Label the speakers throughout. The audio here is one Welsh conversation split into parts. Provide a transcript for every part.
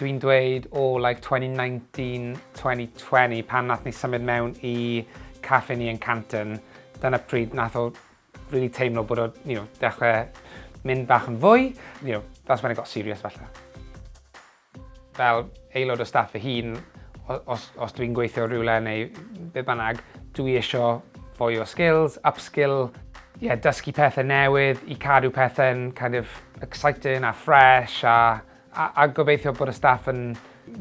Speaker 1: dwi'n dweud o oh, like 2019, 2020 pan nath ni symud mewn i caffe ni yn Canton, dyna pryd nath o really teimlo bod o, you know, dechrau mynd bach yn fwy, you know, that's when it got serious falle. Fel aelod o staff fy hun, os os dwi'n gweithio rywle neu be' bynnag, dwi isio fwy o skills, upskill, ie, dysgu pethe newydd i cadw pethe'n kind of exciting a fresh a a a gobeithio bod y staff yn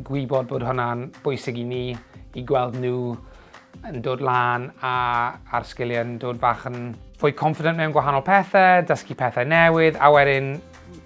Speaker 1: gwybod bod hwnna'n bwysig i ni, i gweld nhw yn dod lan a a'r sgiliau'n dod fach yn fwy confident mewn gwahanol pethe, dysgu pethe newydd a wedyn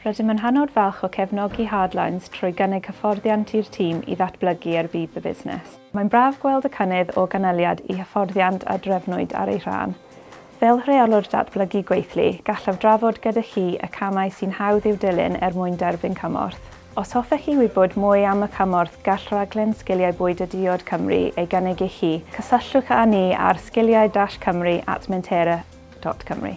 Speaker 1: Rydym yn hynod falch o cefnogi Hardlines trwy gynnig hyfforddiant i'r tîm i ddatblygu er budd y busnes. Mae'n braf gweld y cynnydd o ganlyniad i hyfforddiant a drefnwyd ar ei rhan. Fel Rheolwr Datblygu Gweithlu, gallaf drafod gyda chi y camau sy'n hawdd i'w dilyn er mwyn derbyn cymorth. Os hoffech chi wybod mwy am y cymorth gall Rhaglen Sgiliau Bwyd a Diod Cymru ei gynnig i chi, cysylltwch â ni ar sgiliau-cymru at mentera dot cymru.